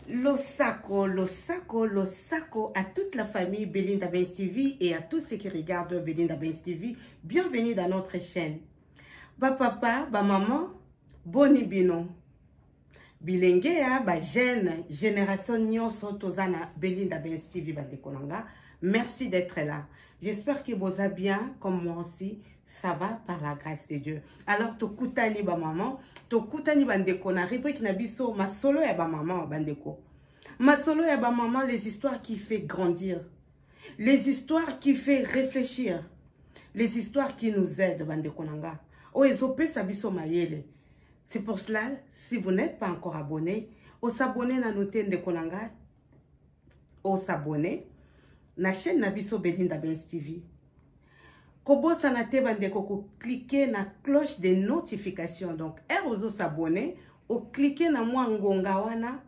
Losako, Losako, Losako à toute la famille Belinda Benz TV et à tous ceux qui regardent Belinda Benz TV. Bienvenue dans notre chaîne. Ba papa, ba maman, boni bino. bilenge ya ba jeune génération nyonso toza na belinda bens tv bandeko na nga merci d'être là j'espère que boza bien comme moi aussi ça va par la grâce de dieu alors tokutani bamaman tokutani bandeko na rubrike na biso masolo ya bamaman bandeko masolo ya bamaman les histoires qui fait grandir les histoires qui fait réfléchir les histoires qui nous aident bandeko na nga oyo ezopesa biso mayele C'est pour cela, si vous n'êtes pas encore abonné, au s'abonner na note ndeko na nga, au s'abonner na chaîne na biso Belinda Benz TV. Kobosana te bandeko ko cliquer na cloche de notification. Donc, heure ozo s'abonner, au cliquer na mwa ngonga wana,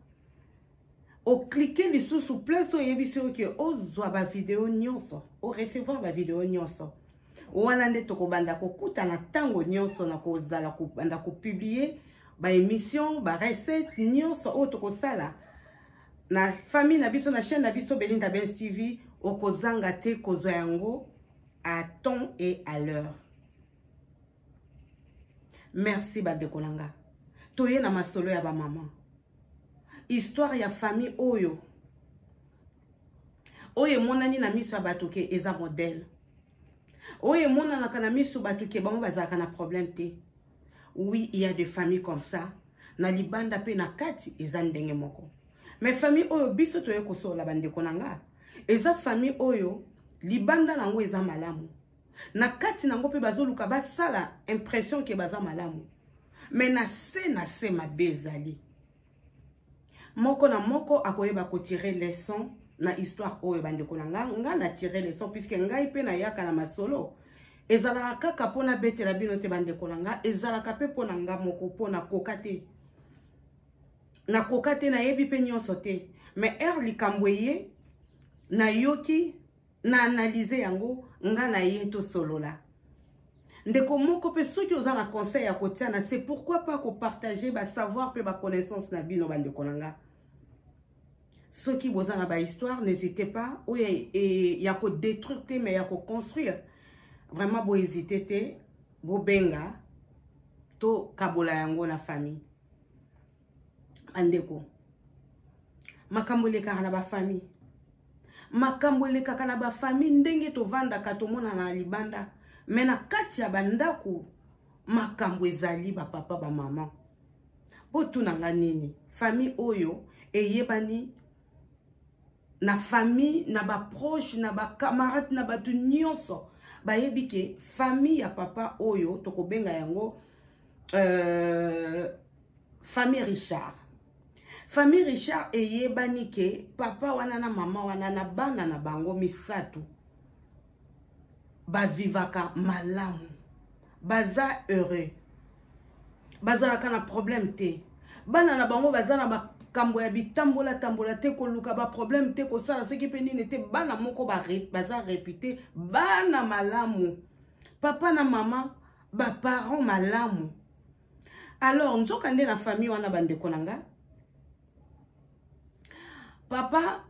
au cliquer lisusu place oyebisi yo ke ozwa ba video nyonso, au recevoir ba video nyonso. wana nde tokobanda kokutana ntango nyonso na kozala kobanda kopublie baémission barecette nyonso oyo tokosala na famille na biso na chaîne na biso belinda bens tv okozanga te kozwa yango à temps et à l'heure merci bandeko na nga toye na masolo ya bamama histoire ya famille oyo oyo emonani na miso ya bato ke eza modele oyo emonanaka na miso bato ke bango bazalaka na problème te oui il y a des familles comme ça na libanda mpe na kati eza ndenge moko mais famille oyo biso toye kosolola bandeko na nga eza famille oyo libanda na yango eza malamu na kati na yango mpe bazoluka basala impression ke baza malamu mais na se na se mabe ezali moko na moko akoyeba kotire leson na histoire oyo bandeko na ngai ngai na tire leson puiske ngai mpe nayaka na masolo ezalaka kaka mpo nabetela bino te bandeko na ngai ezalaka mpe mpo na ngai moko mpo nakoka te nakoka te nayebi mpe nyonso te mais heure likambo eye nayoki na analyse yango nga na ye tosolola ndeko moko mpe soki oza na conseil ya kotia na se pourquoi pas kopartage basavoir mpe baconnaissance na bino bandeko na nga soki boza na bahistoire n'hésite pas oyo ya, e, ya kodétruire te mais ya koconstruire vraiment bohésite te bobenga tokabola yango na famille bandeko makambo elekaka na bafamille makambo elekaka na bafamille ndenge tovandaka tomonana na libanda me na kati ya bandako makambo ezali bapapa bamama botuna nga nini famille oyo eyebani na famille na ba proche na ba camarade na bato nyonso bayebi ke famille ya papa oyo tokobenga yango euh, famille richard famille richard eyebani ke papa wana na mama wana na bana na bango misato bavivaka malamu baza heureux bazalaka na problème te bana na bango baza na makambo ya bitambola tambola te koluka baproblème te kosala soki mpe nini te bana moko baza repute bana malamu papa na mama baparent malamu alors nzoka nde na famille wana bandeko na nga papa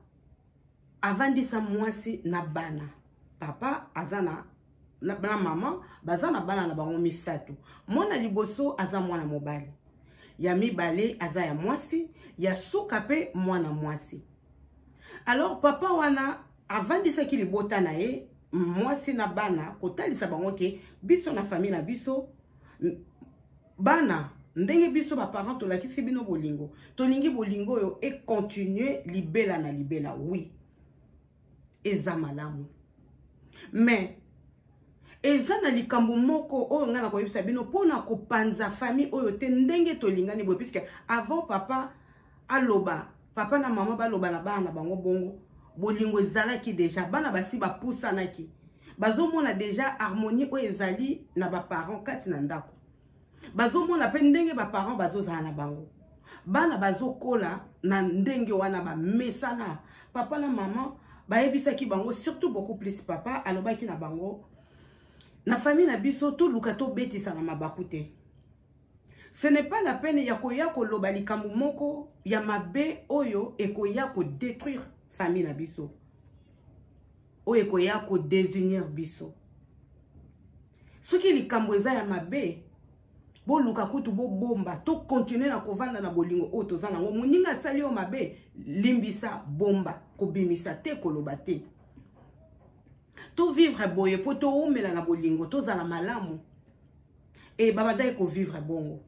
avandisa mwasi na bana papa aza na na mama baza na bana na bango misato mwana liboso aza mwana mobali ya mibale aza ya mwasi ya suka mpe mwana mwasi alors papa wana avandisaki libota na ye mwasi na bana kotalisa bango ke biso na famille na biso bana ndenge biso baparent tolakisi bino bolingo tolingi bolingo oyo econtinue libela na libela wi eza malamu mais eza na likambo moko oyo ngai nakoyebisa bino mpona kopanza famille oyo te ndenge tolingani boye puiske avant papa aloba papa na mama baloba na bana na bango bongo bolingo ezalaki deja bana basi bapusanaki bazomona deja harmonie oyo ezali na baparent kati na ndako bazomona mpe ndenge baparent bazozala na bango bana bazokola na ndenge wana bamesana papa na mama bayebisaki bango surtout beaucoup plus papa alobaki na bango na famille na biso toluka tobetisana mabaku te ce n'est pas la peine ya koya koloba likambo moko ya mabe oyo ekoya kodétruire famille na biso oyo ekoya kodésunir biso soki likambo eza ya mabe boluka kutu bobomba tokontinue na kovanda na bolingo oyo toza nango moninga asali yo mabe limbisa bomba kobimisa te koloba te to vivre boye po to umela na bolingo to zala malamu et ba bandaki ko vivre bongo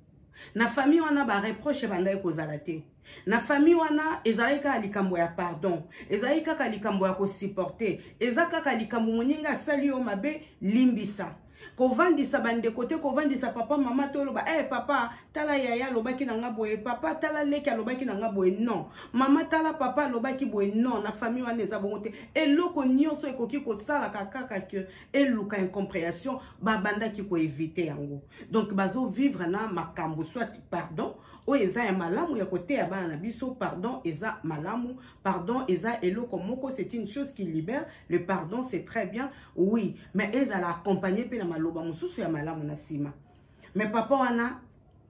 na famille wana ba reproche bandaki ko zala te na famille wana ezalaki kaka likambo ya pardon ezalaki kaka likambo ya ko supporter eza kaka likambo moninga asali yo mabe limbisa kovandisa bandeko te kovandisa papa mama te oloba e hey, papa tala yaya alobaki na nga boye papa tala leki alobaki na nga boye non mama tala papa alobaki boye non na famille wana eza bongo te eloko nyonso ekoki kosalaka kaka ke eluka incomprehension babandaki koevite yango donc bazovivre na makambo soit pardon oyo eza ya malamu ya koteya bana na biso pardon eza malamu pardon eza eloko moko c'est une chose qui libère le pardon c'est très bien oui mais ezala accompagne mpe na maloba mosusu ya malamu na nsima mais papa wana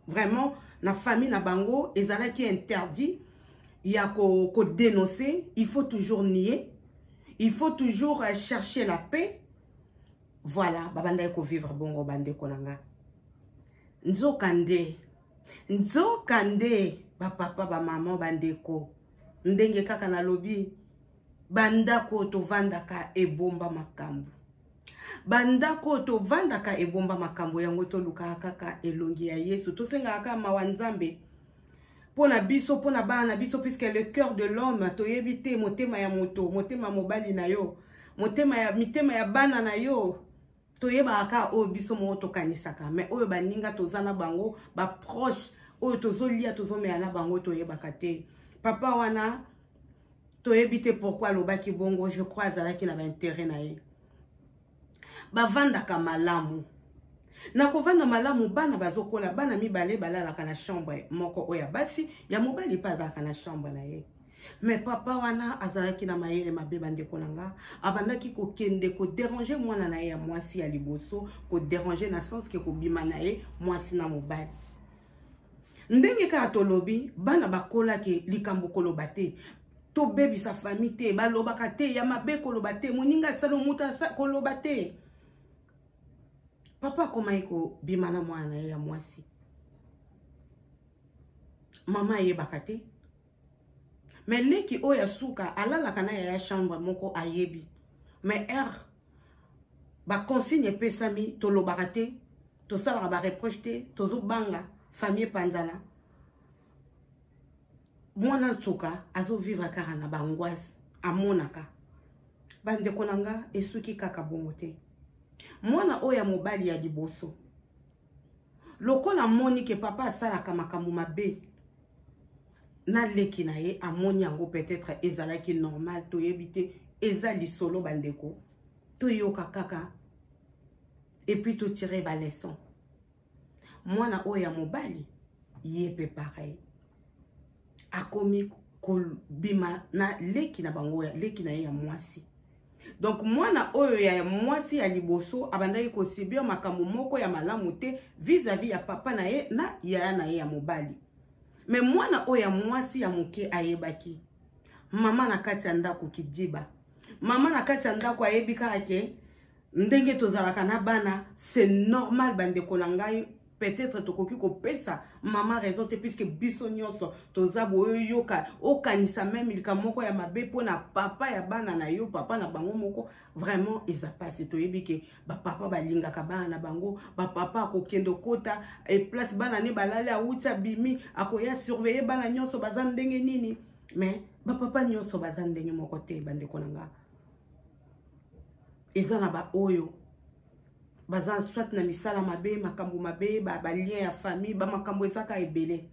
vraiment na famille na bango ezalaki interdit ya kodenoncer ko il faut toujours nier il faut toujours euh, chercher la paix voilà babandaki kovivre bongo bandeko na nga nzoka nde nzoka nde bapapa bamama bandeko ndenge kaka nalobi bandako oyo tovandaka ebomba makambo bandako oyo tovandaka ebomba makambo yango tolukaka kaka elongi ya yesu tosengaka kaka mawa nzambe mpo na biso mpo na bana na biso puiske le cœur de l'homme toyebi te motema ya moto motema mobali na yo motema ya mitema ya bana na yo toyebaka kaka oyo biso moko tokanisaka mais oyo baninga toza na bango baproche oyo tozolia tozomela na bango toyebaka te papa wana toyebi te pourkui alobaki bongo je crois azalaki na baintere na ye bavandaka malamu na kovanda malamu bana bazokola bana mibale balalaka na chambre moko oyo ya basi ya mobali mpe azalaka na chambre na ye me papa wana azalaki na mayele mabe bandeko na nga abandaki kokende koderange mwana na ye ya mwasi ya liboso koderange na sense ke kobima na ye mwasi na mobali ndenge kaka tolobi bana bakolaki likambo koloba te tobebisa fami te balobaka te ya mabe koloba te moninga asala moto koloba te papa akomaki kobima na mwana na ye ya mwasi mama ayebaka te mais leki oyo ya suka alalaka na yaya chambre moko ayebi mais heure baconsigne epesami tolobaka te tosalaka bareproche te tozobanga famille epanzana mwana nsuka azovivre kaka na bangoise amonaka bandeko na nga esuki kaka bongo te mwana oyo ya mobali ya liboso lokola amoni ke papa asalaka makambo mabe na leki na ye amoni yango peut-être ezalaki normal toyebi te eza lisolo bandeko toyoka kaka epuis totire baleson mwana oyo ya mobali ye mpe pareil akomi kobima na leki na bango ya leki na ye ya mwasi donc mwana oyo ya mwasi ya liboso abandaki kosibia makambo moko ya malamu te vis-à-vis ya papa na ye na yaya na ye ya mobali me mwana oyo ya mwasi ya moke ayebaki mama na kati ya ndako kidiba mama na kati ya ndako ayebi kaka ke ndenge tozalaka na bana c'est normal bandeko na ngai peut-être tokoki kopesa mama raison te puiske biso nyonso toza boyoyoka okanisa meme likambo moko ya mabe mpo na papa ya bana na yo papa na bango moko vraiment eza mpasi toyebi ke bapapa balingaka bana na bango bapapa akokende okota eplace bana ne balali awuti abimi akoya surveille bana nyonso baza ndenge nini mais bapapa nyonso baza ndenge moko te bandeko na nga eza na baoyo baza soit na misala mabe makambo mabe balien ya famille bamakambo ezaka ebele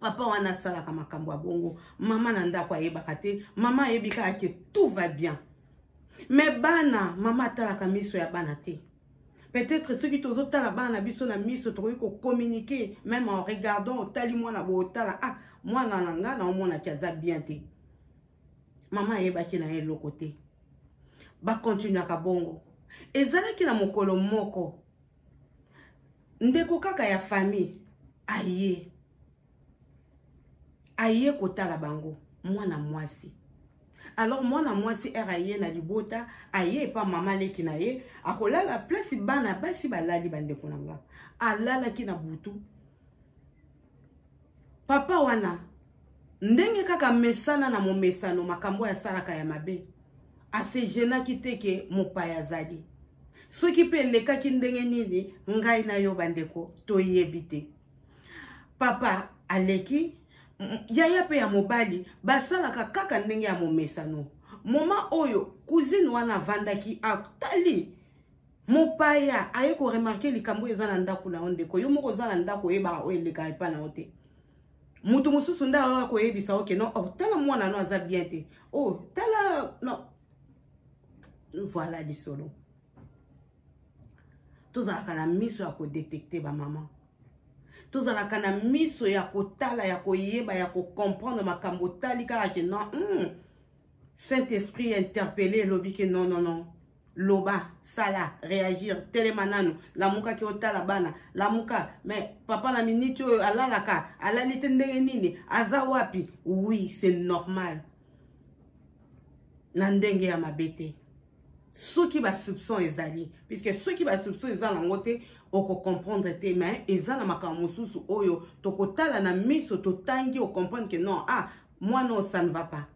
papa wana asalaka makambo ya bongo mama na ndako ayebaka te mama ayebi kaka ke tout va bien me bana mama atalaka miso ya bana te peut-être soki tozotala bana na biso na miso tokoki kokommunike meme en regardant otali mwana bootala ah mwana na ngai naomonaki aza bien te mama ayebaki na ye eloko te bakontinuaka bongo ezalaki na mokolo moko ndeko kaka ya famille aye aye kotala bango mwana mwasi alors mwana mwasi ere aye na libota aye epa mama leki na ye akolala place bana basi balali bandeko na nga alalaki na butu papa wana ndenge kaka mesana na momesano makambo oyo asalaka ya mabe asejenaki te ke mopaya azali soki mpe elekaki ndenge nini ngai na yo bandeko toyebi te papa aleki yaya mpe ya mobali basalaka kaka ndenge ya momesano moma oyo kuzine wana avandaki atali mopaya aye ko remarke likambo eza na ndako na yo ndeko yo moko oza na ndako oyebaka oyo elekaka epai na yo te moto mosusu nde ayoka koyebisa yo ke non oh, tala mwana no aza bien te o oh, tala non voilà lisolo tozalaka na miso ya kodetekte bamama tozalaka na miso ya kotala ya koyeba ya kocomprendre makambo otali kaka ke non mm, saint esprit interpele elobi ke non non non loba sala reagir telema nanu lamuka ke otala bana lamuka mais papa na miniti oyo alalaka alali te ndenge nini aza wapi oui c'est normal na ndenge ya mabe te soki basoupçon ezali puisque soki basoupçon eza nango te okocomprendre te mais eza na makambo mosusu oyo tokotala na miso totangi ocomprendre ke non ah mwana oyo ça ne va pas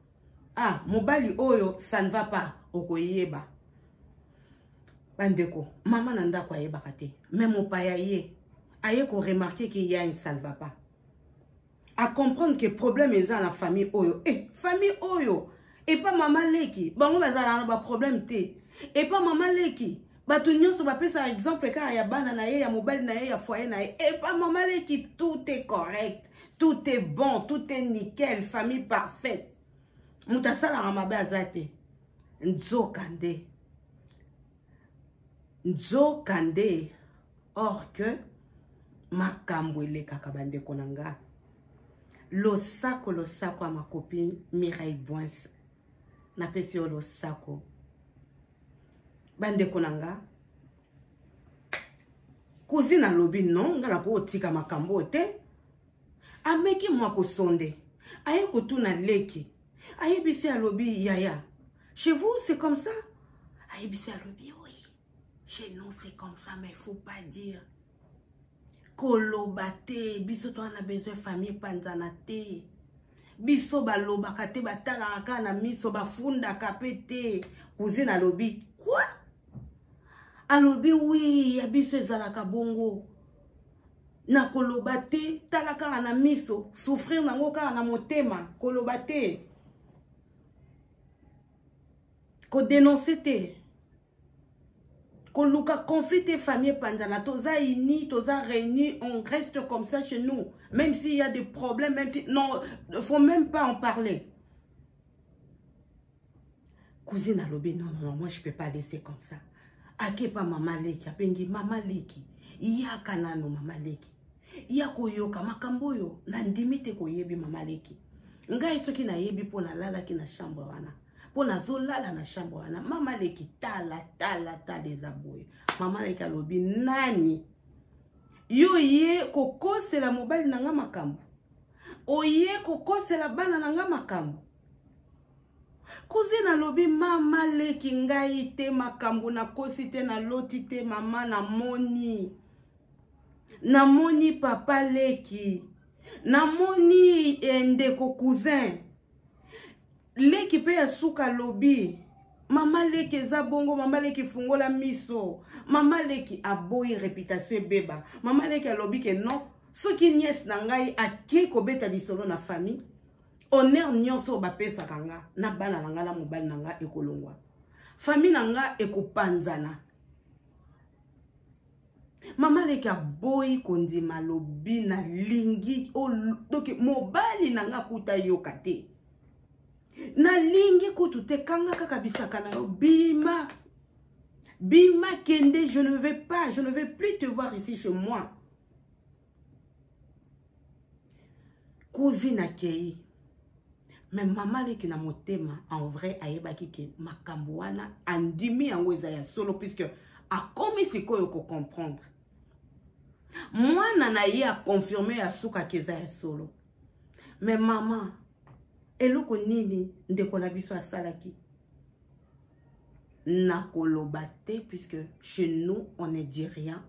ah mobali oyo ça ne va pas okoyeba bandeko mama na ndako ayebaka te me mopaya ye aye koremarke ke ya ça ne va pas acomprendre ke problème eza na famille oyo e eh, famille oyo epa mama leki bango bazalaka na baproblème te epa mama leki bato nyonso bapesaka exemple kaka ya bana na ye ya mobali na ye ya foye na ye epa mama leki tout est correct tout est bon tout est nickel famille parfaite moto asalaka mabe aza te nzoka nde nzoka nde or que makambo elekaka bandeko na nga losako losako ya makopi mirai bwinse napesi yo losako bandeko na nga cousine alobi non nga nakotika makambo oyo te ameki mwa kosonde aye kotuna leki ayebisi alobi yaya chez vous c'est comme ça ayebisi alobi oui chez nous c'est comme ça mais faut pas dire koloba te biso toa na besoin famille epanzana te biso balobaka te batalaka kaka na miso bafundaka mpe te cousine alobi kua alobi wi ya biso ezalaka bongo na koloba te tala kaka na miso souffrir nango kaka na motema koloba te kodenonse te koluka conflit te famille epanzana toza uni toza réuni on reste comme ça chez nous même s'il y a des problèmes même si non faut même pas en parler cousine alobi non non moi je peux pas laisser comme ça akepa mama leki abengi mama leki yaka nano mama leki ya koyoka makambo oyo nandimi te koyebi mama leki ngai soki nayebi mpo nalalaki na chambre wana mpo nazolala na chambre wana mama leki tala tala tala eza boye mama leki alobi nani yo ye kokosela mobali na ngai makambo oye kokosela bana na ngai makambo kuzine alobi mama leki ngai te makambo nakosi te naloti te mama namoni namoni papa leki namoni eh, ndeko cousin leki mpe ya suka lobi mama leki eza bongo mama leki fungola miso mama leki aboyi reputation ebeba mama leki alobi ke non soki niese na ngai akei kobeta lisolo na famille honneur nyonso oyo bapesaka nga na bana na nga na mobali na nga ekolongwa famille na nga ekopanzana mama leki aboyi kondima lobi nalingi doki mobali na nga kuta yoka te nalingi kutu te kanga kaka bisaka na yo bima bima kende je ne vais pas je ne vais plus te voir ici chez moi cousine akei me mama leki na motema en vrai ayebaki ke makambo wana andimi yango eza ya solo puisque akomi sikoyo kocomprendre mwana na ye akonfirme ya suka ke eza ya solo me mama eloko nini ndeko na biso asalaki nakoloba te puisque chez nous on ne dit rien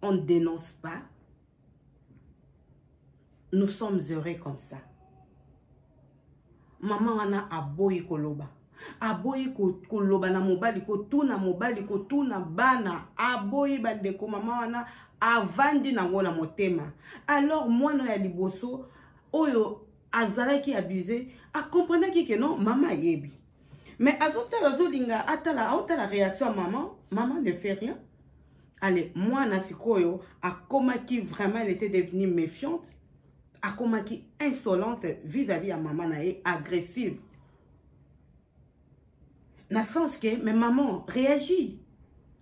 on ne dénonce pas nous sommes heureux comme ça mama wana aboyi koloba aboyi koloba na mobali kotuna mobali kotuna bana aboyi bandeko mama wana avandi nango na motema alors mwana ya liboso oyo azalaki abuse akomprenaki ke non mama ayebi Mais azotala azolinga atala aotala réaction ya maman. Maman ne fait rien. Allez, mwana sikoyo akomaki vraiment elle était devenue méfiante. Akomaki insolente vis-à-vis ya maman na ye agressive. Na sens que mais maman réagit.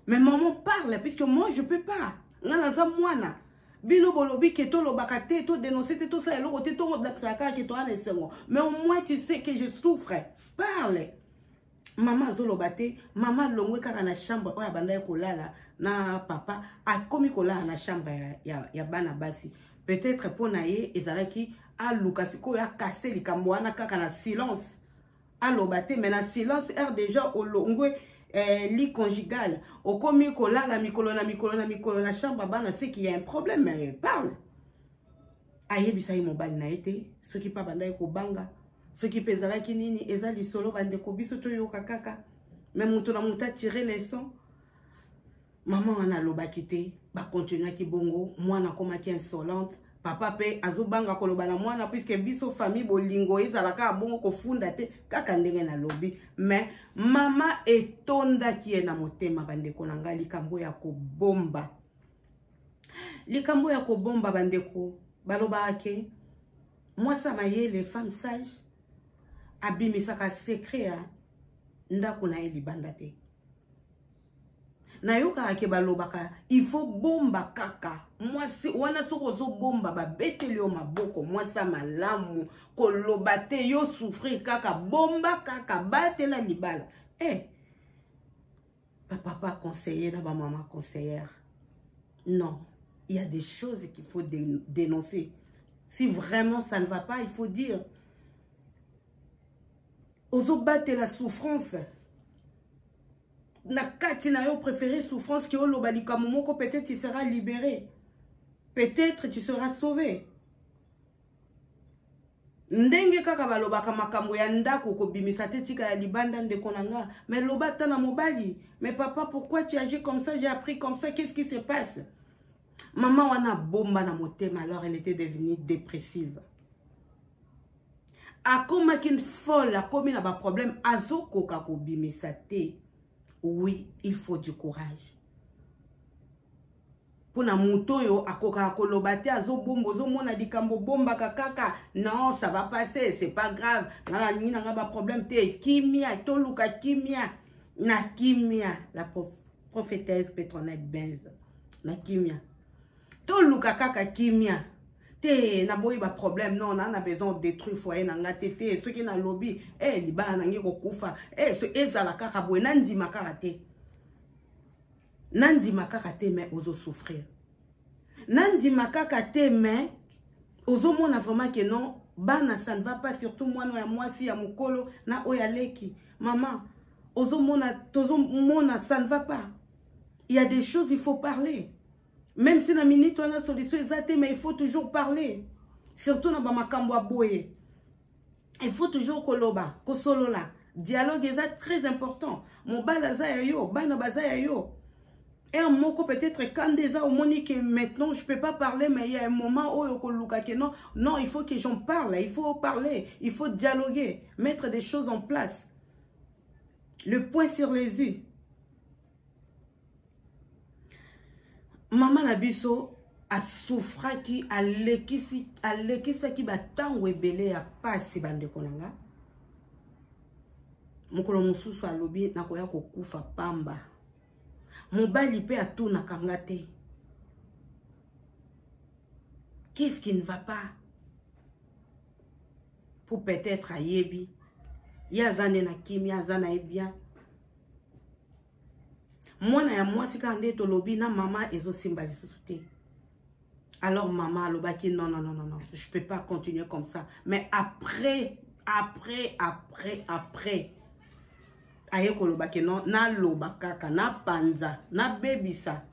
Mais maman parle puisque moi je peux pas. Nga naza mwana. bino bolobi ke tolobaka te to denonce te tosala eloko te tolakisaka kaka ke toya na esengo mais au moins tu sais que je souffre parle mama azoloba te mama alongwe kaka na chambre oyo abandaki kolala na papa akomi kolala na chambre ya, ya, ya bana basi peut-être mpo na ye ezalaki aluka sikoyo akase likambo wana kaka na silence aloba te mais na silence heure déjà olongwe eh, li conjugal okomi kolala mikolo na mikolo na mikolo na chambre bana seki ya un problème mais parle ayebisa ye mobali na ye te soki mpe abandaki kobanga soki mpe ezalaki nini eza lisolo bandeko biso toyoka kaka me moto na moto atire leson mama wana alobaki te bakontinuaki bongo mwana akomaki insolente papa mpe azobanga koloba na mwana puiske biso famille bolingo ezala kaka bongo kofunda te kaka ndenge nalobi mais mama etondaki ye na motema bandeko na ngai likambo ya kobomba likambo ya kobomba bandeko balobaka ke mwasi ya mayele femme sage abimisaka secret ya ndako na ye libanda te nayokaka ke balobaka il faut bomba kaka mwasi wana soki ozobomba babeteli yo maboko mwasi ya malamu koloba te yo souffrir kaka bomba kaka batela libala e eh, hey, bapapa conseiller na bamama conseillere non il y a des choses qu'il faut dénoncer si vraiment ça ne va pas il faut dire ozobatela souffrance na kati na yo préféré souffrance ke oloba likambo moko peut-être tu seras libéré peut-être tu seras sauvé ndenge kaka balobaka makambo ya ndako kobimisa te tika ya libanda ndeko na nga mais loba ata na mobali mais papa pourquoi tu agis comme ça j'ai appris comme ça qu'est-ce qui se passe mama wana abomba na motema alors elle était devenue dépressive akomaki une folle akomi na ba problème azokoka kobimisa te oui il faut du courage mpo na moto oyo akokaka koloba te azobomba ozomona likambo obombaka kaka non ça va passer c'est pas grave nga nalingi nanga baproblème te kimia toluka kimia na kimia la prophétesse petronette benz na kimia toluka kaka kimia te naboyi baproblème non naa na besoin détruire foyer na nga te te soki nalobi e eh, libala na nge kokufa e eh, so, ezala kaka boye nandima kaka te nandima kaka te mais ozosouffrir nandima kaka te mais ozomona vraiment ke non bana ça ne va pas surtout mwana ya mwasi ya mokolo na oyo aleki mama ozomona tozomona ça ne va pas il y a des choses il faut parler Même si na minute wana solution eza te mais il faut toujours parler. Surtout na ba makambo ya boye. Il faut toujours koloba, kosolola. Dialogue eza très important. Mobali aza ya yo, bana baza ya yo. heure moko peut-être kanda eza omoni que maintenant je peux pas parler mais il y a un moment oyo okoluka que non non il faut que j'en parle il faut parler il faut dialoguer mettre des choses en place le point sur les yeux mama na biso asufraki alekisi alekisaki bantango ebele ya mpasi bandeko na nga mokolo mosusu alobi nakoya kokufa pamba mobali mpe atunaka nga te qu'est-ce qui ne va pas pour peut-être ayebi ye aza nde na kimia aza na ye bien mwana ya mwasi kaka nde tolobi na mama ezosimba lisusu te alors mama alobaki non non non non je peux pas continuer comme ça mais après après après après aye koloba ke non naloba kaka napanza nabebisa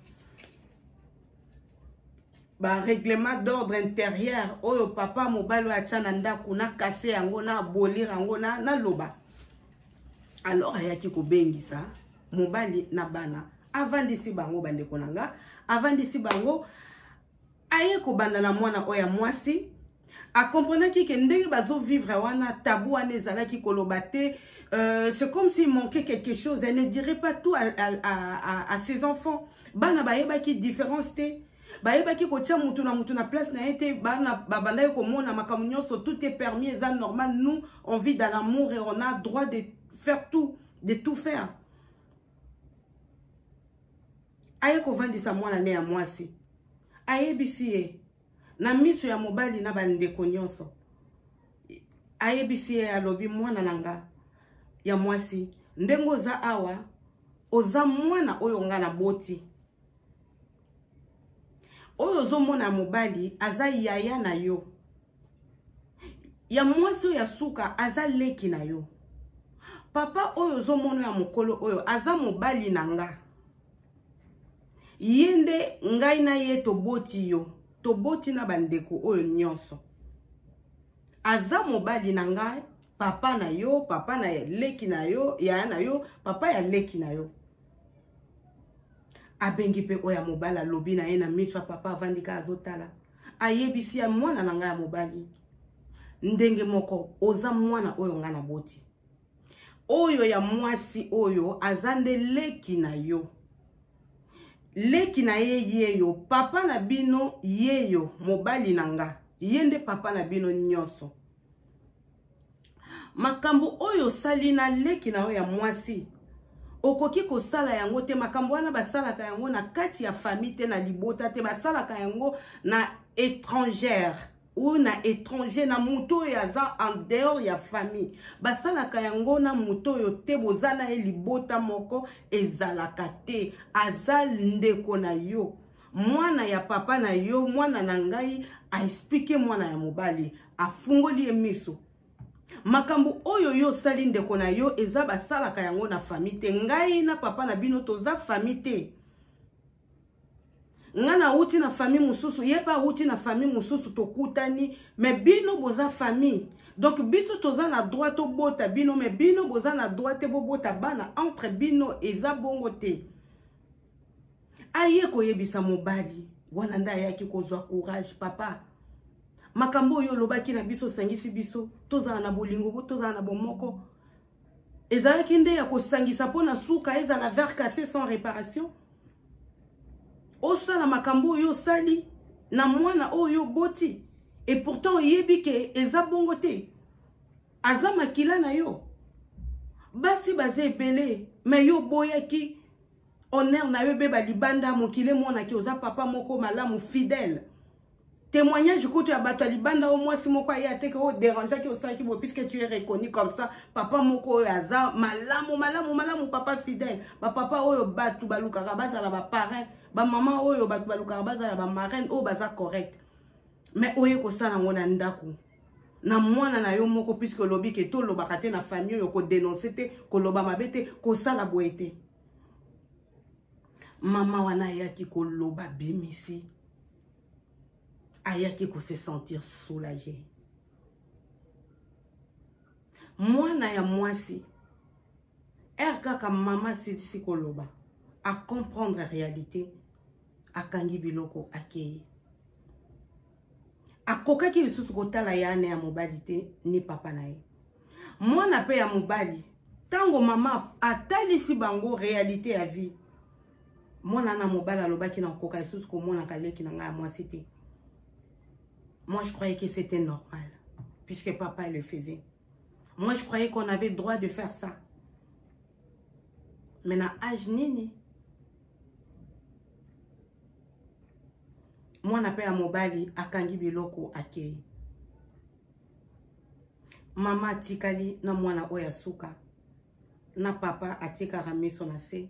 ba règlement d'ordre intérieur oyo papa mobali oyo atya na ndako na kase yango na abolir yango naloba na alors ayaki kobengisa mobali na bana avandisi bango bandeko na nga avandisi bango aye kobanda na mwana oyo ya mwasi akomprenaki ke ndenge bazovivre wana tabu wana ezalaki koloba te euh, c'est comme s'il manquait quelque chose elle ne dirait pas tout à, à, à, à ses enfants bana bayebaki différence te bayebaki kotia motu na motu na place na ye te bana babandaki komona makambo nyonso tout est permis eza normal nous on vit dans l'amour et on a droit de faire tout de tout faire aye kovandisa mwana ne ya mwasi ayebisi ye na miso ya mobali na bandeko nyonso ayebisi ye alobi mwana na nga ya mwasi ndenge oza awa oza mwana oyo nga na boti oyo ozomona mobali aza yaya na yo ya mwasi oyo ya suka aza leki na yo papa oyo ozomona ya mokolo oyo aza mobali na nga ye nde ngai na ye toboti yo toboti na bandeko oyo nyonso aza mobali na ngai papa na yo papa na leki na yo yaya na yo papa ya leki na yo abengi mpe oyo ya mobali alobi na ye na miso ya papa avandi kaka azotala ayebisi ya mwana na ngai ya mobali ndenge moko oza mwana oyo ngai naboti oyo ya mwasi oyo aza nde leki na yo leki na ye yeyo papa na bino yeyo mobali na nga ye nde papa na bino nyonso makambo oyo osali na leki na yo ya mwasi okoki kosala yango te makambo wana basalaka yango na kati ya famille te na libota te basalaka yango na étrangère ou na étranger na moto oyo aza en dehors ya famille basalaka yango na moto oyo te boza na ye libota moko ezalaka te aza ndeko na yo mwana ya papa na yo mwana na ngai aexplike mwana ya mobali afungoli ye miso makambo oyo yo osali ndeko na yo eza basalaka yango na fami te ngai na papa na bino toza fami te nga nauti na famille mosusu ye mpe auti na famille mosusu tokutani me bino boza famille donc biso toza na droit tobota bino me bino boza na droit te bobota bana entre bino eza bongo te aye koyebisa mobali wana nde ayaki kozwa courage papa makambo oyo olobaki na biso osangisi biso tozala na bolingo tozala na bomoko ezalaki nde ya kosangisa mpo na suka ezala vers casse sans réparation osala makambo oyo osali na mwana oyo oboti et pourtant oyebi ke eza bongo te aza makila na yo basi baza ebele me yo oboyaki honneur na yo ebeba libanda mokili emonaki oza papa moko malamu fidèle témoignage kutu ya bato ya libanda oyo mwasi moko aye ateke oyo derangeaki osalaki boye puisque tu es reconnu comme ça papa moko oyo aza malamu malamu malamu papa fidèle bapapa oyo bato balukaka bazala baparrain bamama oyo bato balukaka bazala bamarraine oyo baza correct mais oye kosala yango na ndako na mwana na yo moko puisque olobi ke tolobaka te na famille oyo kodenonse te koloba mabe te kosala boye te mama wana ayaki koloba bimisi ayaki ko se sentir soulage mwana ya mwasi ere kaka mama asilisi koloba acomprendre réalité akangi biloko akei akokaki lisusu kotala ya ane ya mobali te ni papa na ye mwana mpe ya mobali ntango mama atalisi bango réalité ya vie mwana wana mobali alobaki na kokoka lisusu komonaka leki na ngai ya mwasi te moi je croyais que c'était normal puisque papa le faisait moi je croyais qu'on avait droit de faire ça mais na age nini mwana mpe ya mobali akangi biloko akei mama atikali na mwana oyo ya suka na papa atie kaka miso na se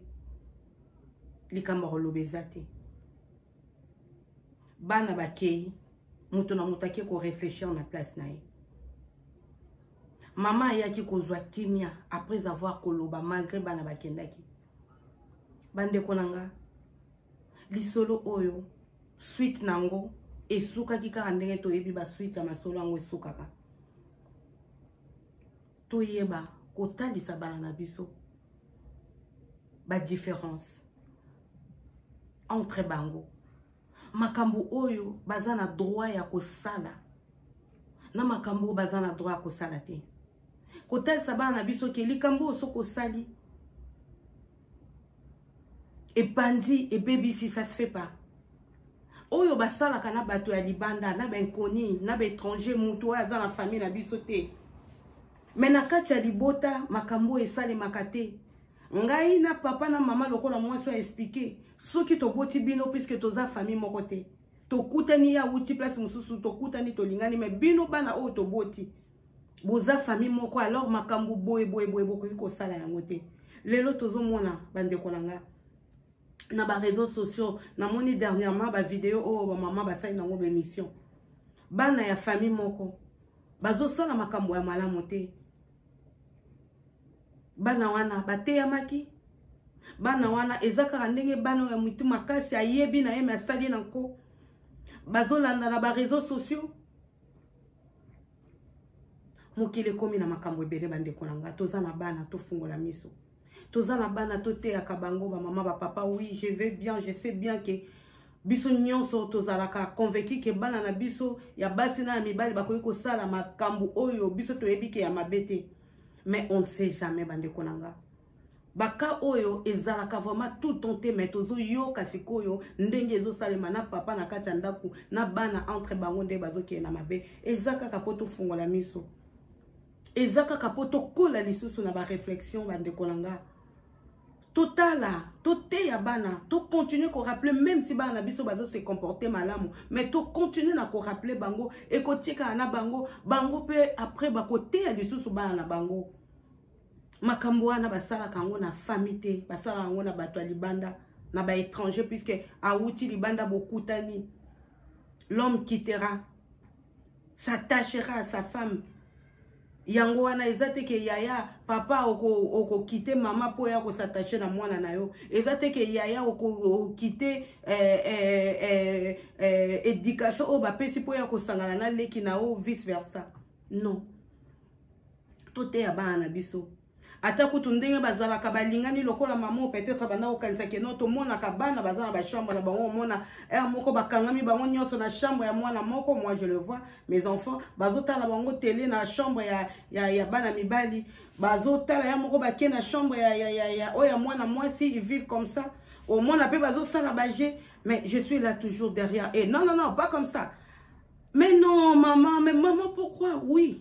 likambo akoloba eza te bana bakei moto na moto ake koreflechir na place na ye mama ayaki kozwa kimia après avoir koloba malgré bana bakendaki bandeko na nga lisolo oyo suite na yango esukaki kaka ndenge toyebi basuite ya masolo yango esukaka toyeba kotalisa bana na biso badifference entre bango makambo oyo baza na droit ya kosala na makambo oyo baza na droit ya kosala te kotalisa bana na biso ke likambo oyo soki osali epanzi ebebisi ça se fait pas oyo basalaka na bato ya libanda na bainconi na baétranger motu oyo aza na famille na biso te me na kati ya libota makambo oyo esalemaka te ngai na papa na mama lokola mwasi oyo aexplike soki toboti bino puiske toza famille moko te tokutani ye awuti place mosusu tokutani tolingani me bino bana oyo toboti boza famille moko alors makambo boye boye boye bokoki kosala yango te lelo tozomona bandeko na nga na bareseau sociaux namoni dernièrement bavideo oyo bamama basali nango baémission bana ya famille moko bazosala makambo ya malamu te bana wana bateyamaki bana wana eza kaka ndenge bana oyo ya motu makasi ayebi na ye me asali na nko bazolanda na bareseau sociaux mokili ekomi na makambo ebele bandeko na ngai toza na bana tofungola miso toza na bana toteyaka bango bamama bapapa oui je vais bien je sais bien ke biso nyonso tozalaka convaincu ke bana na biso ya basi na ya mibali bakoki kosala makambo oyo biso toyebi ke ya mabe te mais on ne sait jamais bandeko na ngai baka oyo ezalaka vraiment tout temps te mais tozoyoka sikoyo ndenge ezosalema na papa na kati ya ndako na bana entre bango nde bazokende na mabe eza kaka mpo tofungola miso eza kaka mpo tokola lisusu na bareflexion bandeko na nga totala toteya bana tocontinue koraple meme si bana na biso bazo se comporte malamu mais tocontinue na koraple bango ekotikala na bango bango mpe après bakoteya lisusu bana na bango makambo wana basalaka yango na famille te basalaka yango na bato ya libanda na baétranger puisque awuti libanda bokutani l'homme quittera s'attachera à sa femme yango wana eza te ke yaya papa okokite oko mama mpo ya kosatache na mwana na yo eza te ke yaya okokite eh, eh, eh, eh, éducation oyo bapesi mpo ya kosangana na leki na yo vice versa non toteya bana na biso ata kutu ndenge bazalaka balingani lokola mama peut-être banda kokanisa keno tomonaka bana baza na bachambre na bango omona heure moko bakangami bango nyonso na chambre ya mwana moko moi je le vois mes enfants bazotala bango tele na chambre ya, ya, ya bana mibali bazotala ya moko bake na chambre ya, ya, ya, ya oyo ya mwana mwasi ils vivent comme ça omona mpe bazosala baje mais je suis là toujours derrière et non non non pas comme ça mais non maman mais maman pourquoi oui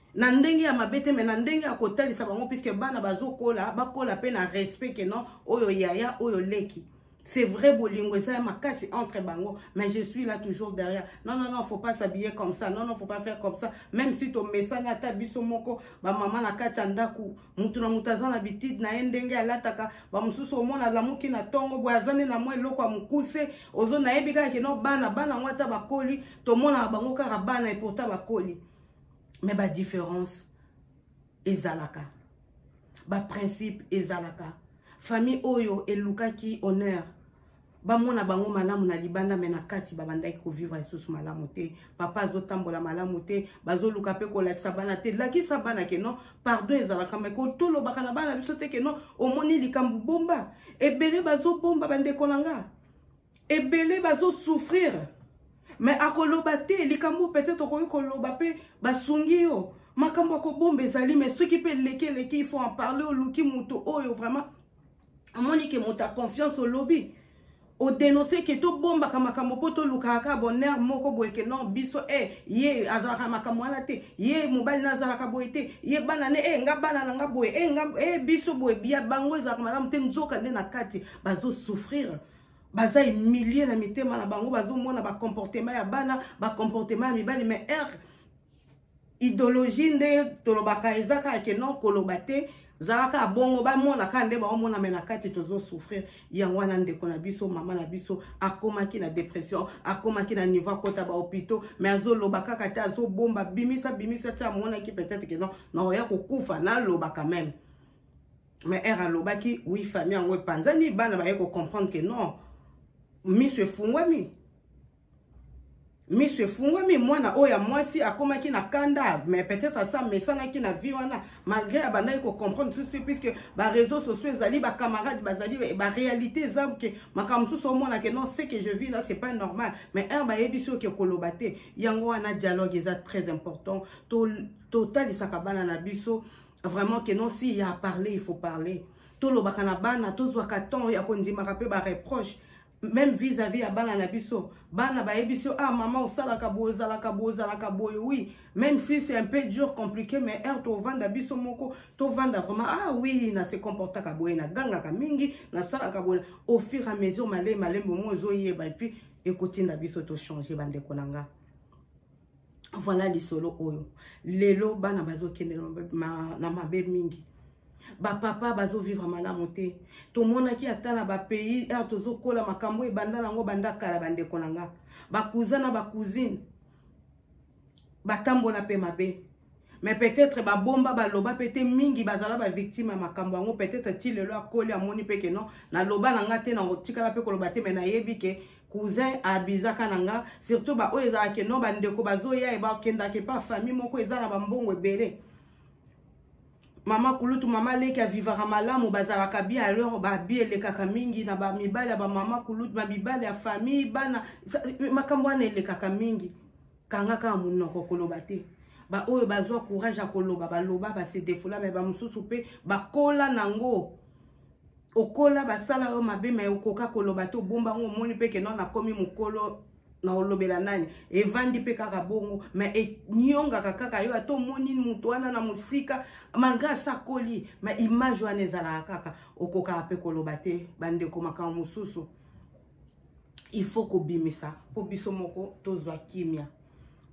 na ndenge ya mabe te me na ndenge ya kotalisa bango puiske bana bazokola bakola mpe na respect ke non oyo yaya oyo leki c'est vrai bolingo eza ya makasi entre bango mais je suis là toujours derrière non non non faut pas s'habiller comme ça non non faut pas faire comme ça même si tomesani ata biso moko bamama na kati ya ndako motu na motu aza na bitide na ye ndenge alataka bamosusu omona alamuki na ntongo boye aza nde na mwa eloko ya mokuse ozo nayebi kaka kino bana bana yango ata bakoli tomonaka bango kaka bana epourtant bakoli mais ba différence ezalaka ba principe ezalaka famille oyo elukaki honneur bamona bango malamu na libanda me na kati babandaki kovivre lisusu malamu te papa azotambola malamu te bazoluka mpe kolakisa bana te lakisa bana ke non pardon ezalaka me kotolobaka na bana biso te ke non omoni likambo bomba ebele bazobomba bandeko na nga ebele bazo souffrir mais akoloba te likambo peut-être okoki koloba mpe basungi yo makambo ya kobomba ezali mais soki mpe eleki eleki il faut en parler oluki moto oyo vraiment amoni ke moto ya confiance olobi odenonse ke tobombaka makambo mpo tolukaka kaka bonheur moko boye ke non biso e eh, ye azalaka makambo wana te ye mobali na azalaka boye te ye bana ne e eh, nga bana na nga boye e eh, nga e biso boye bia bango ezalaka malamu te nzoka nde na kati bazosouffrir baza humilie na mitema na bango bazomona bacomportement ya bana bacomportement ya mibali mais heure idéologie nde tolobaka eza kaka ke non koloba te zalaka bongo bamona kaka nde baomona me na kati tozosouffrir yango wana ndeko na biso mama na biso akomaki na dépression akomaki na niveau akota bahopitaux me azoloba kaka te azobomba bimisa bimisa ti amonaki peut-être ke non naoya kokufa naloba quand même mais ere alobaki wi famille yango epanzani bana baye kocomprendre ke non miso efungwami miso efungwami mwana oyo ya mwasi akomaki na kanda mais peut-être asa amesanaki na vie wana malgré abandaki kocomprendre susu puisque bareseau sociaux ezali bacamarade bazali baréalité eza ke makambo mosusu omona ke non ce que je vis là c'est pas normal mais heure bayebisi oke koloba te yango wana dialogue eza très important totalisaka to bana na biso vraiment que non si ya parler il faut parler tolobaka na bana tozwaka temps ya kondimaka mpe bareproche même vis-à-vis ya bana na biso bana bayebi biso ah mama osalaka boye ozalaka boye ozalaka boye oui même si c'est un peu dur compliqué mais heure tovanda biso moko tovanda vraiment ah oui na se comportaka boye nagangaka mingi nasalaka boye au fur et à mesure malei malembe omo ezoyeba epuis ekotinda biso tochange bandeko na nga voilà lisolo oyo lelo bana bazokende na mabe mingi bapapa bazovivre malamu te tomonaki ata na bapays aire tozokola makambo oyo ebanda nango banda kala bandeko na nga bakuza na bacousine batambola mpe mabe mais peut-être babomba baloba mpe te mingi bazala bavictime ya makambo yango peut-être ti lelo akoli amoni mpe ke non naloba na nga te nakotikala mpe koloba te mai nayebi ke cousin abizaka na nga surtout baoyo ezalaka ke non bandeko bazoya bakendaka epa famille moko eza na bambongo ebele mama kulutu mama leki avivaka malamu bazalaka bi alors babi elekaka mingi na bamibali ya bamama kulutu bamibali ya famille bana makambo wana elekaka mingi kanga kaka monoko koloba te baoyo bazwa courage ya koloba baloba base defola me bamosusu mpe bakola nango okola basala yo mabe me okoka koloba te obomba yango omoni mpe keno nakomi mokolo na olobela nani evandi mpe kaka bongo me enyongaka kaka yo ata omoni moto wana na mosika malgre asakoli me image wana ezalaka kaka okokaka mpe koloba te bandeko makambo mosusu il faut kobimisa mpo biso moko tozwa kimia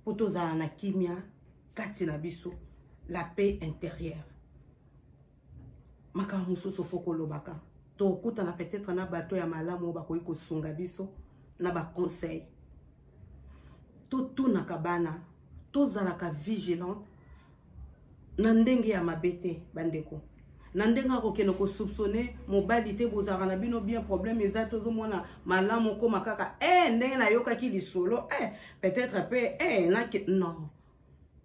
mpo tozala na kimia kati na biso la paix intérieure makambo mosusu fo kolobaka tokutana peut-être na bato ya malamu oyo bakoki kosunga biso na baconseil totunaka bana tozalaka vigilant na ndenge ya mabe te bandeko na ndenge akokende kosoupçonne mobali te bozalaka na bino bien problème eza te ozomona malamu okoma kaka e eh, ndenge nayokaki lisolo e eh, peut-être mpe e eh, nake non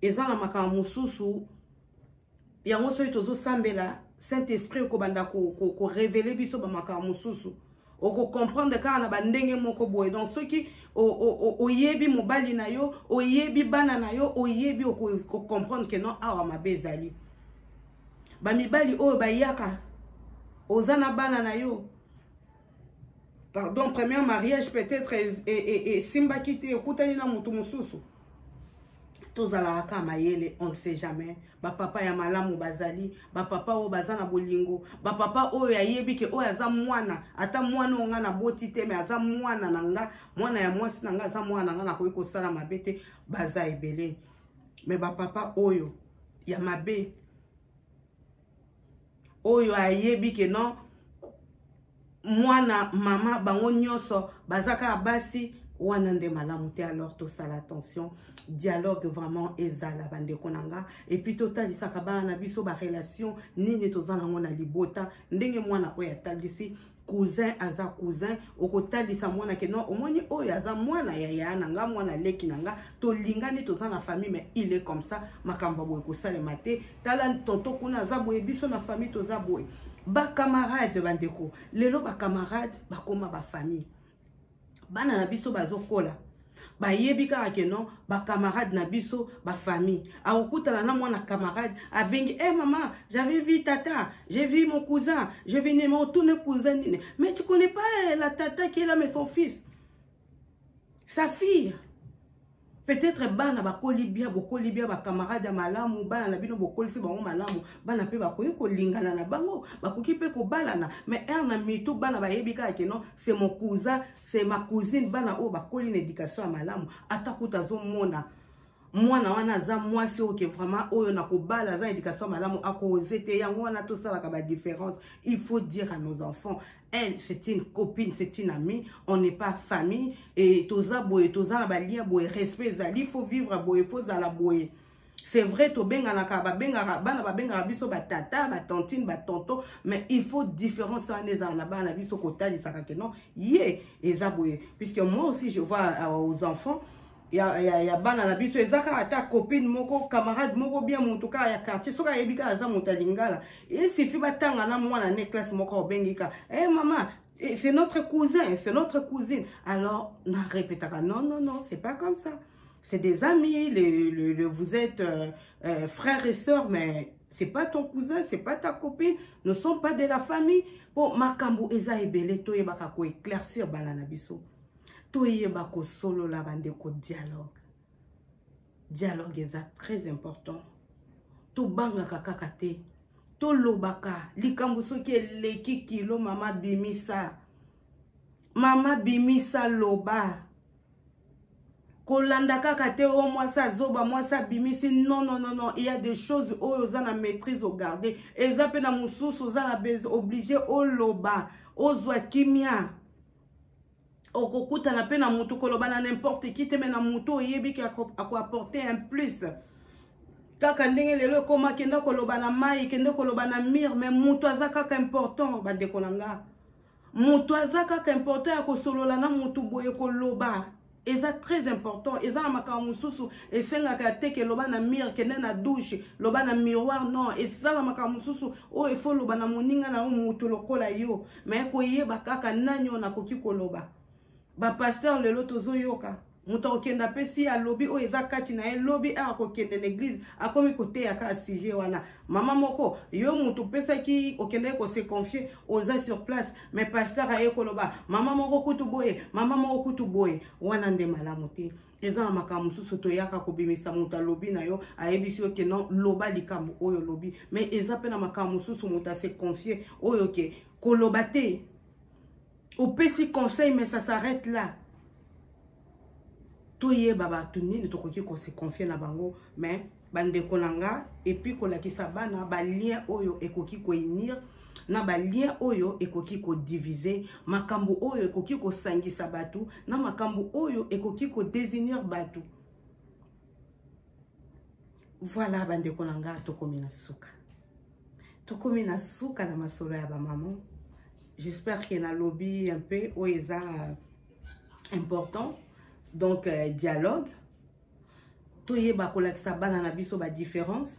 eza na makambo mosusu yango soki tozosambela saint esprit okobanda korevele ko, ko biso bamakambo mosusu okocomprendre kaka na bandenge moko boye donc soki oyebi mobali na yo oyebi bana na yo oyebi okocomprendre ke non awa mabe ezali bamibali oyo bayaka oza na bana na yo pardon premier mariage peut-être esimbaki e, e, te okutani na motu mosusu tozalaka kaka mayele on ne sait jamais bapapa ya malamu bazali bapapa oyo baza na bolingo bapapa oyo ayebi ke oyo aza mwana ata mwana oyo ngai naboti te me aza mwana na nga mwana ya mwasi na ngai aza mwana na ngai nakoki kosala mabe te baza ebele me bapapa oyo ya mabe oyo ayebi ke non mwana mama bango nyonso baza kaka basi wana nde malamu te alors tosala attention dialogue vraiment ezala bandeko na nga epuis totalisaka bana na biso barelation nini toza nango na libota ndenge mwana oyo atalisi cousin aza cousin okotalisa mwana ke non omoni oyo aza mwana ya yaya na nga mwana leki na nga tolingani toza na famille mais il est comme ça makambo boye kosalema te tala tonto kuna aza boye biso na famille toza boye bacamarade bandeko lelo bacamarade bakoma bafamille bana na biso bazokola bayebi kaka ke non bacamarade na biso bafamille akokutana na mwana camarade abengi e eh, hey, mama j'avais vu tata j'ai vu mon cousin je vine motourne cousin nini mais tu connais pas eh, la tata qui est là mais son fils sa fille peut-être bana bakoli bien bokoli bien bacamarade ya malamu bana na bino bokolisi bango malamu bana mpe bakoki kolingana na bango bakoki mpe kobalana mais heure na mitu bana bayebi kaka ke non c'est mon cousin c'est ma cousine bana oyo bakoli na éducation ya malamu ata kuta azomona mwana wana aza mwasi oyo ke vraiment oyo na kobala aza éducation malamu akoose te yango wana tosalaka badifference il faut dire à nos enfants elle c'est une copine c'est une amie on n'est pas famille et toza boye toza na balia boye respect ezali faut vivre boye faut zala boye c'est vrai tobenganaka babengaka bana babengaka biso batata batantine batonto mais il faut différence wana ezala na bana na biso kotalisaka ke non ye eza boye puisque moi aussi je vois euh, aux enfants ya, ya, ya bana na biso eza kaka ata copine moko camarade moko bien motu kaka ya quartier soki ayebi kaka aza moto ya lingala esifi batanga na mwana ne classe moko obengi kaka e eh, hey, mama eh, c'est notre cousin c'est notre cousine alors na répétaka non non non c'est pas comme ça c'est des amis le, le, le, vous êtes euh, euh, frères et sœurs mais c'est pas ton cousin c'est pas ta copine ne sont pas de la famille mpo makambo eza ebele toyebaka koéclaircir bana na biso toyeba kosolola bandeko dialogue dialogue eza très important tobangaka kaka te tolobaka likambo soki eleki kilo mama bimisa mama bimisa loba kolanda kaka te o oh, mwasi azoba mwasi abimisi non non non non il y a des choses oyo oza na maîtrise ogarde eza mpe na mosusu oza na oblige oloba ozwa kimia okokutana mpe na motu koloba na n'importe qui te me na motu oyebi ke akoapporte un plus kaka ndenge lelo ekoma kende koloba na mai kende koloba na mire me motu aza kaka important bandeko na nga motu aza kaka important ya kosolola na motu boye koloba eza très important eza na makambo mosusu esengaka te ke loba na mire kende na douche loba na miroir non eza na makambo mosusu oyo efo loba na moninga na yo moto lokola yo me koyeba kaka nani oyo nakoki koloba bapaster lelo tozoyoka moto akokenda mpe si alobi oyo eza kati na ye lobi a akokende na eglize akomi koteya kaka sujet wana mama moko yo moto opesaki okendaki kose confie oza sur place me pasteur aye koloba mama moko kutu boye mama moko kutu boye wana nde malamu te eza na makambo mosusu toyaka kobimisa moto alobi na yo ayebisi yo ke non loba likambo oyo olobi me eza mpe na makambo mosusu moto ase confie oyo ke koloba te opesi conseil mais ça s'arrête là toyeba bato nini tokoki kose confie na bango mais bandeko na nga epuis kolakisa bana balien oyo ekoki koinir na balien oyo ekoki kodivise makambo oyo ekoki kosangisa bato na makambo oyo ekoki kodesinir bato voilà bandeko na nga tokomi na suka tokomi na suka na masolo ya bamama j'espère ke nalobi un peu oyo eza important donc euh, dialogue toyeba kolakisa bana na biso badifference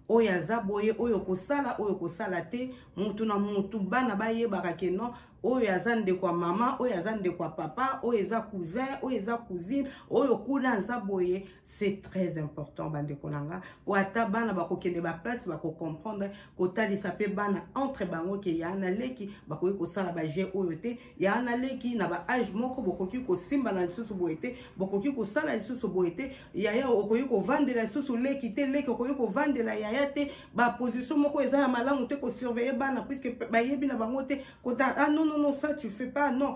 oyo aza boye oyo kosala oyo kosala te mutu na mutu bana bayebaka ke non oyo aza ndeko ya mama oyo aza ndeko ya papa oyo eza cousin oyo eza cousine oyo kuna aza boye c'est très important bandeko na nga po ata bana bakokende baplace bakocomprendre kotalisa mpe bana entre bango ke ya na leki bakoki kosala baje oyo te ya na leki na baage moko bokoki kosimbana lisusu boye te bokoki kosala lisusu boye te yaya okoki kovandela lisusu leki te leki okoki kovandela yaya te baposition moko eza ya malamu te kosurveille bana puiske bayebi na bango te kota ah non non non ça tu fais pas non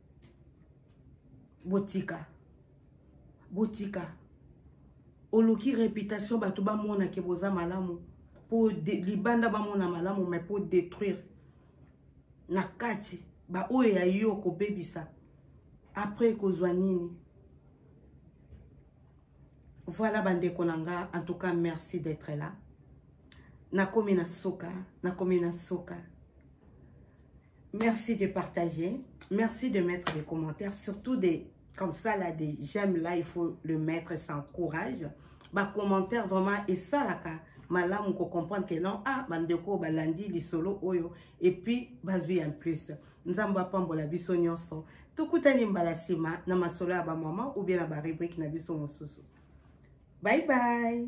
botika botika oluki reputation bato bamona ke boza malamu po libanda bamona malamu mai po détruire na kati baoyo ya yo kobebisa après kozwa nini voilà bandeko na nga en tout cas merci d'être là nakomi na suka nakomi na suka Merci de partager. Merci de mettre des commentaires, surtout des comme ça là des j'aime là il faut le mettre sans courage. Ba commentaire vraiment et ça là ka malamu ko comprendre que non ah bandeko balandi lisolo oyo et puis bazui en plus. Nzamba pambola biso nyonso. Tokutani mbala sima na masolo ya ba maman ou bien na ba rubrique na biso mosusu. Bye bye.